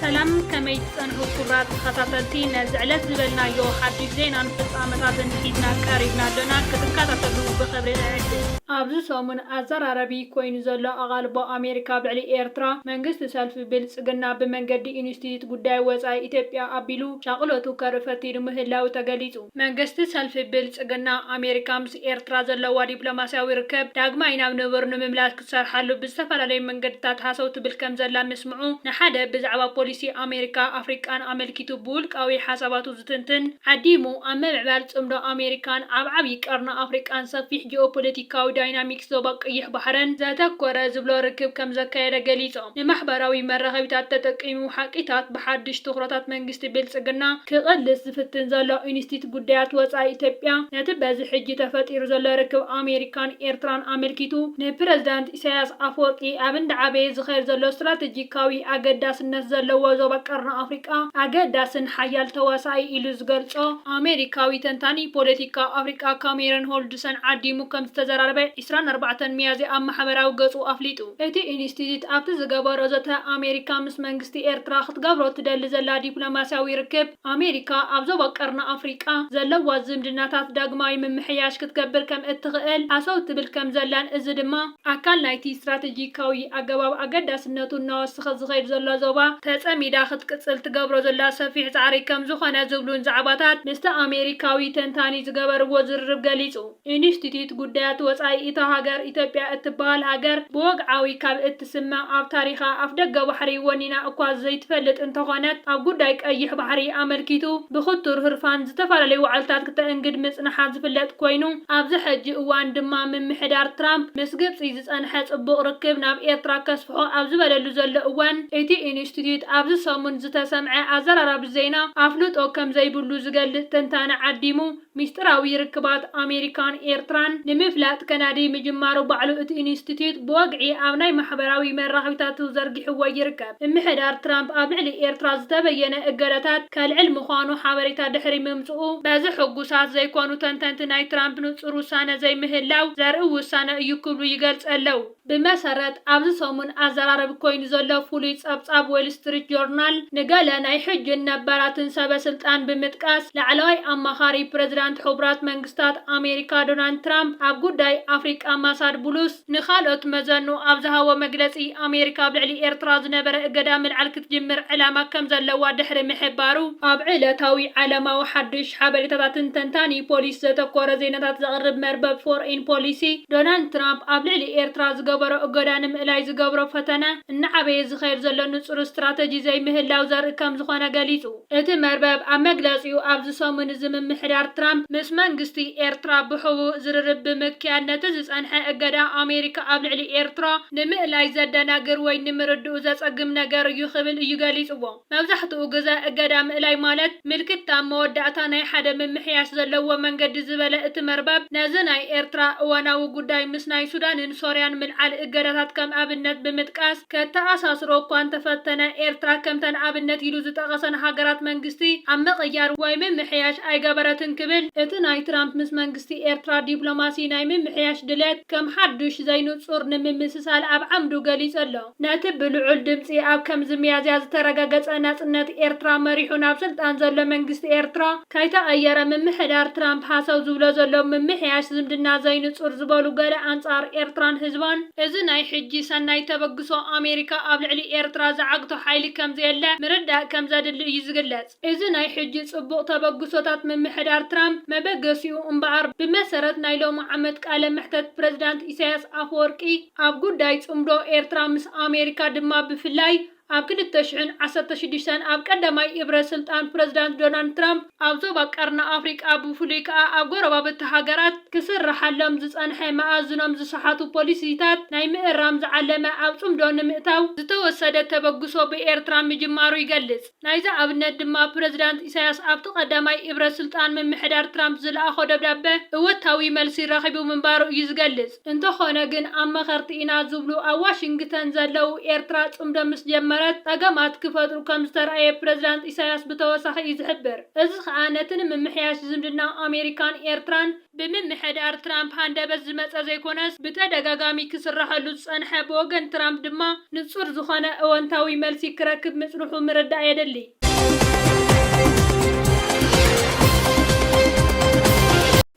ሰላም ከመይ ትጸንሑ ክቡራት ተኸታተልቲ ነዚ ዕለት ዝበልናዮ ሓድሽ ዜናን ፍጻመታትን ሒዝና ቀሪብና ኣሎና ክትከታተሉ ብኽብሪ ንዕድም። ኣብዚ ሰሙን ኣዘራራቢ ኮይኑ ዘሎ ኣቓልቦ ኣሜሪካ ብዕሊ ኤርትራ፣ መንግስቲ ሰልፊ ብልጽግና ብመንገዲ ኢንስቲትዩት ጉዳይ ወጻኢ ኢትዮጵያ ኣቢሉ፣ ሻቕሎቱ ከርኢ ፈቲኑ ምህላዉ ተገሊጹ። መንግስቲ ሰልፊ ብልጽግና፣ ኣሜሪካ ምስ ኤርትራ ዘለዋ ዲፕሎማስያዊ ርክብ ዳግማይ ናብ ንቡር ንምምላስ ክትሰርሓሉ ብዝተፈላለዩ መንገድታት ሃሰው ትብል ከምዘላ ምስምዑ ንሓደ ብዛዕባ ፖሊሲ ኣሜሪካ ኣፍሪቃን ኣመልኪቱ ብውልቃዊ ሓሳባቱ ዝትንትን ዓዲሙ ኣብ ምምዕባል ጽምዶ ኣሜሪካን ኣብ ዓብዪ ቀርኒ ኣፍሪቃን ሰፊሕ ጂኦፖለቲካዊ ዳይናሚክስ ዞባ ቀይሕ ባሕርን ዘተኮረ ዝብሎ ርክብ ከምዘካየደ ገሊጹ። ንማሕበራዊ መራኸቢታት ተጠቂሙ ሓቂታት ብሓድሽ ትኹረታት መንግስቲ ብልጽግና ክቕልስ ዝፍትን ዘሎ ኢንስቲት ጉዳያት ወጻኢ ኢትዮጵያ ነቲ በዚ ሕጂ ተፈጢሩ ዘሎ ርክብ ኣሜሪካን ኤርትራን ኣመልኪቱ ንፕረዚዳንት ኢሳይያስ ኣፈወርቂ ኣብ እንዳዓበየ ዝኸድ ዘሎ ስትራተጂካዊ ኣገዳስነት ዘለዎ ዞባ ቀርኒ ኣፍሪቃ ኣገዳስን ሓያል ተዋሳኢ ኢሉ ዝገልጾ ኣሜሪካዊ ተንታኒ ፖለቲካ ኣፍሪቃ ካሜረን ሆልድሰን ዓዲሙ ከምዝተዘራረበ ዕስራን ኣርባዕተን ሚያዝያ ኣብ ማሕበራዊ ገጹ ኣፍሊጡ። እቲ ኢንስቲትዩት ኣብቲ ዝገበሮ ዘተ፣ ኣሜሪካ ምስ መንግስቲ ኤርትራ ክትገብሮ ትደሊ ዘላ ዲፕሎማስያዊ ርክብ፣ ኣሜሪካ ኣብ ዞባ ቀርኒ ኣፍሪቃ ዘለዋ ዝምድናታት ዳግማይ ምምሕያሽ ክትገብር ከም እትኽእል ሃሰው ትብል ከም ዘላን እዚ ድማ ኣካል ናይቲ ስትራተጂካዊ ኣገባብ ኣገዳስነቱ እናወሰኸ ዝኸይድ ዘሎ ዞባ ተጸሚዳ ክትቅጽል ትገብሮ ዘላ ሰፊሕ ጻዕሪ ከም ዝኾነ ዝብሉን ዛዕባታት ምስቲ ኣሜሪካዊ ተንታኒ ዝገበርዎ ዝርርብ ገሊጹ። ኢንስቲትዩት ጉዳያት ወጻኢ እታ ሃገር ኢትዮጵያ እትበሃል ሃገር ብወግዓዊ ካብ እትስመ ኣብ ታሪኻ ኣፍደገ ባሕሪ ወኒና እኳ ዘይትፈልጥ እንተኾነት ኣብ ጉዳይ ቀይሕ ባሕሪ ኣመልኪቱ ብኽቱር ህርፋን ዝተፈላለዩ ዋዕልታት ክተእንግድ ምጽንሓ ዝፍለጥ ኮይኑ ኣብዚ ሕጂ እዋን ድማ ምምሕዳር ትራምፕ ምስ ግብጺ ዝጸንሐ ጽቡቕ ርክብ ናብ ኤርትራ ከስፍሖ ኣብ ዝበለሉ ዘሎ እዋን እቲ ኢንስቲትዩት ኣብዚ ሰሙን ዝተሰምዐ ኣዘራራቢ ዜና ኣፍልጦ ከምዘይብሉ ዝገልጽ ትንታነ ዓዲሙ ሚስጢራዊ ርክባት ኣሜሪካን ኤርትራን ንምፍላጥ ከናዲ ምጅማሩ ባዕሉ እቲ ኢንስቲትዩት ብወግዒ ኣብ ናይ ማሕበራዊ መራኸቢታቱ ዘርጊሕዎ ይርከብ። ምምሕዳር ትራምፕ ኣብ ልዕሊ ኤርትራ ዝተበየነ እገዳታት ከልዕል ምዃኑ ሓበሬታ ድሕሪ ምምጽኡ፣ በዚ ሕጉሳት ዘይኮኑ ተንተንቲ ናይ ትራምፕ ንጹር ውሳነ ዘይምህላው ዘርኢ ውሳነ እዩ ክብሉ ይገልጸ ኣለው። ብመሰረት ኣብዚ ሰሙን ኣዘራረቢ ኮይኑ ዘሎ ፍሉይ ጸብጻብ ዎል ስትሪት ጆርናል፣ ንገለ ናይ ሕጂን ነባራትን ሰበ ስልጣን ብምጥቃስ፣ ላዕለዋይ ኣማኻሪ ፕረዚዳንት ሕቡራት መንግስታት ኣሜሪካ ዶናልድ ትራምፕ ኣብ ጉዳይ ኣፍሪቃ ማሳድ ቡሉስ፣ ንኻልኦት መዘኑ ኣብ ዝሃቦ መግለጺ፣ ኣሜሪካ ኣብ ልዕሊ ኤርትራ ዝነበረ እገዳ ምልዓል ክትጅምር ዕላማ ከም ዘለዋ ድሕሪ ምሕባሩ፣ ኣብ ዕለታዊ ዓለማዊ ሓድሽ ሓበሬታታትን ተንታኒ ፖሊሲ ዘተኮረ ዜናታት ዘቕርብ መርበብ ፎርኢን ፖሊሲ፣ ዶናልድ ትራምፕ ኣብ ልዕሊ ኤርትራ ዝገበሮ እገዳ ንምእላይ ዝገብሮ ፈተነ፣ እናዓበየ ዝኸይድ ዘሎ ንጹር ስትራተጂ ዘይምህላው ዘርኢ ከም ዝኾነ ገሊጹ። እቲ መርበብ ኣብ መግለጺኡ፣ ኣብዚ ሰሙን እዚ ምምሕዳር ትራምፕ ምስ መንግስቲ ኤርትራ ብሕቡእ ዝርርብ ብምክያድ ነቲ ዝጸንሐ እገዳ ኣሜሪካ ኣብ ልዕሊ ኤርትራ ንምእላይ ዘደናግር ወይ ንምርድኡ ዘጸግም ነገር እዩ ክብል እዩ ገሊጽዎ። መብዛሕትኡ ግዘ እገዳ ምእላይ ማለት ምልክት ኣብ መወዳእታ ናይ ሓደ ምምሕያሽ ዘለዎ መንገዲ ዝበለ እቲ መርበብ ነዚ ናይ ኤርትራ እዋናዊ ጉዳይ ምስ ናይ ሱዳንን ሶርያን ምልዓል እገዳታት ከም ኣብነት ብምጥቃስ ከተኣሳስሮ እኳ እንተፈተነ ኤርትራ ከምተን ኣብነት ኢሉ ዝጠቐሰን ሃገራት መንግስቲ ኣብ ምቕያር ወይ ምምሕያሽ ኣይገበረትን ክብል እቲ ናይ ትራምፕ ምስ መንግስቲ ኤርትራ ዲፕሎማሲ ናይ ምምሕያሽ ድሌት ከም ሓዱሽ ዘይንጹር ንምምስሳል ኣብ ዓምዱ ገሊጹ ኣሎ። ነቲ ብልዑል ድምጺ ኣብ ከምዚ ሚያዝያ ዝተረገገጸ ናጽነት ኤርትራ መሪሑ ናብ ስልጣን ዘሎ መንግስቲ ኤርትራ ከይተቐየረ ምምሕዳር ትራምፕ ሃሰው ዝብሎ ዘሎ ምምሕያሽ ዝምድና ዘይንጹር ዝበሉ ገለ ኣንጻር ኤርትራን ህዝባን እዚ ናይ ሕጂ ሰናይ ተበግሶ ኣሜሪካ ኣብ ልዕሊ ኤርትራ ዝዓግቶ ሓይሊ ከምዘየለ ምርዳእ ከምዘድሊ እዩ ዝግለጽ። እዚ ናይ ሕጂ ጽቡቕ ተበግሶታት ምምሕዳር ትራምፕ መበገሲኡ እምበኣር፣ ብመሰረት ናይ ሎሚ ዓመት ቃለ መሕተት ፕረዚዳንት ኢሳያስ ኣፈወርቂ፣ ኣብ ጉዳይ ጽምዶ ኤርትራ ምስ ኣሜሪካ ድማ ብፍላይ ኣብ ክልተ ሽሕን ዓሰርተ ሽዱሽተን ኣብ ቀዳማይ እብረ ስልጣን ፕረዚዳንት ዶናልድ ትራምፕ፣ ኣብ ዞባ ቀርኒ ኣፍሪቃ ብፍሉይ ከኣ ኣብ ጎረባብቲ ሃገራት ክስርሓሎም ዝጸንሐ መኣዝኖም ዝሰሓቱ ፖሊሲታት ናይ ምእራም ዝዓለመ ኣብ ጽምዶ ንምእታው ዝተወሰደ ተበግሶ ብኤርትራ ምጅማሩ ይገልጽ። ናይዚ ኣብነት ድማ ፕረዚዳንት ኢሳያስ ኣብቲ ቀዳማይ እብረ ስልጣን ምምሕዳር ትራምፕ ዝለኣኾ ደብዳበ እወታዊ መልሲ ረኺቡ ምንባሩ እዩ ዝገልጽ። እንተኾነ ግን ኣብ መኸርቲ ኢና ዝብሉ ኣብ ዋሽንግተን ዘለዉ ኤርትራ ጽምዶ ምስ ጀመረት ጸገማት ክፈጥሩ ከም ዝተርኣየ ፕረዚዳንት ኢሳያስ ብተወሳኺ እዩ ዝሕብር። እዚ ከኣ ነቲ ንምምሕያሽ ዝምድና ኣሜሪካን ኤርትራን ብምምሕዳር ትራምፕ ሃንደበት ዝመጸ ዘይኮነስ ብተደጋጋሚ ክስራሐሉ ዝጸንሐ ብወገን ትራምፕ ድማ ንጹር ዝኾነ እወንታዊ መልሲ ክረክብ ምጽንሑ ምርዳእ የድሊ።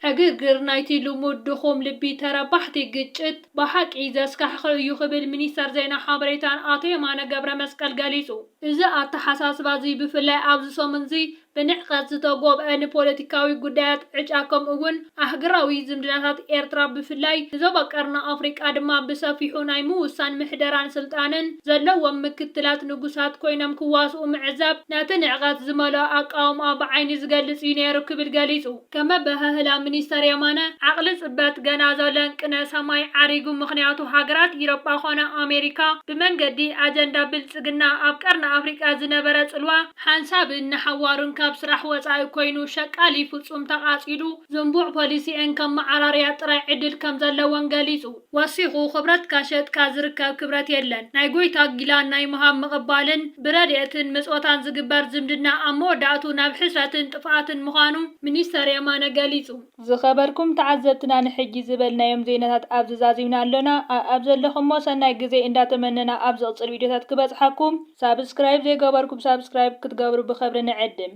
ዕግርግር ናይቲ ልሙድ ድኹም ልቢ ተረባሕቲ ግጭት ብሓቂ ዘስካሕኽሕ እዩ ክብል ሚኒስተር ዜና ሓበሬታን ኣቶ የማነ ገብረመስቀል ገሊጹ። እዚ ኣተሓሳስባ'ዚ ብፍላይ ኣብዚ ሰሙን'ዚ ብንዕቀት ዝተጎብዐ ንፖለቲካዊ ጉዳያት ዕጫ ከምኡ'ውን ኣህግራዊ ዝምድናታት ኤርትራ ብፍላይ ንዞባ ቀርኒ ኣፍሪቃ ድማ ብሰፊሑ ናይ ምውሳን ምሕደራን ስልጣንን ዘለዎም ምክትላት ንጉሳት ኮይኖም ክዋስኡ ምዕዛብ ነቲ ንዕቀት ዝመልኦ ኣቃውማ ብዓይኒ ዝገልጽ እዩ ነይሩ ክብል ገሊጹ። ከም ኣበሃህላ ሚኒስተር የማነ፣ ዓቕሊ ጽበት ገና ዘሎን ቅነ ሰማይ ዓሪጉ ምኽንያቱ ሃገራት ኢሮጳ ኮነ ኣሜሪካ ብመንገዲ ኣጀንዳ ብልጽግና ኣብ ቀርኒ ኣፍሪቃ ዝነበረ ጽልዋ፣ ሓንሳብን ንሓዋሩን ካብ ስራሕ ወጻኢ ኮይኑ ሸቃሊ ፍጹም ተቓጺሉ ዝንቡዕ ፖሊሲኤን ከመዓራርያ ጥራይ ዕድል ከም ዘለወን ገሊጹ። ወሲኹ፣ ክብረትካ ሸጥካ ዝርከብ ክብረት የለን፣ ናይ ጎይታ ጊላን ናይ ምሃብ ምቕባልን ብረድኤትን ምጽወታን ዝግበር ዝምድና ኣብ መወዳእትኡ ናብ ሕስረትን ጥፍኣትን ምዃኑ ሚኒስተር የማነ ገሊጹ። ዝኸበርኩም ተዓዘብትና ንሕጂ ዝበልናዮም ዜናታት ኣብዚ ዛዚምና ኣሎና ኣኣብ ዘለኹሞ ሰናይ ግዜ እንዳ ተመነና ኣብ ዝቕጽል ቪድዮታት ክበጽሓኩም ሳብስክራይብ ዘይገበርኩም ሳብስክራይብ ክትገብሩ ብኽብሪ ንዕድም።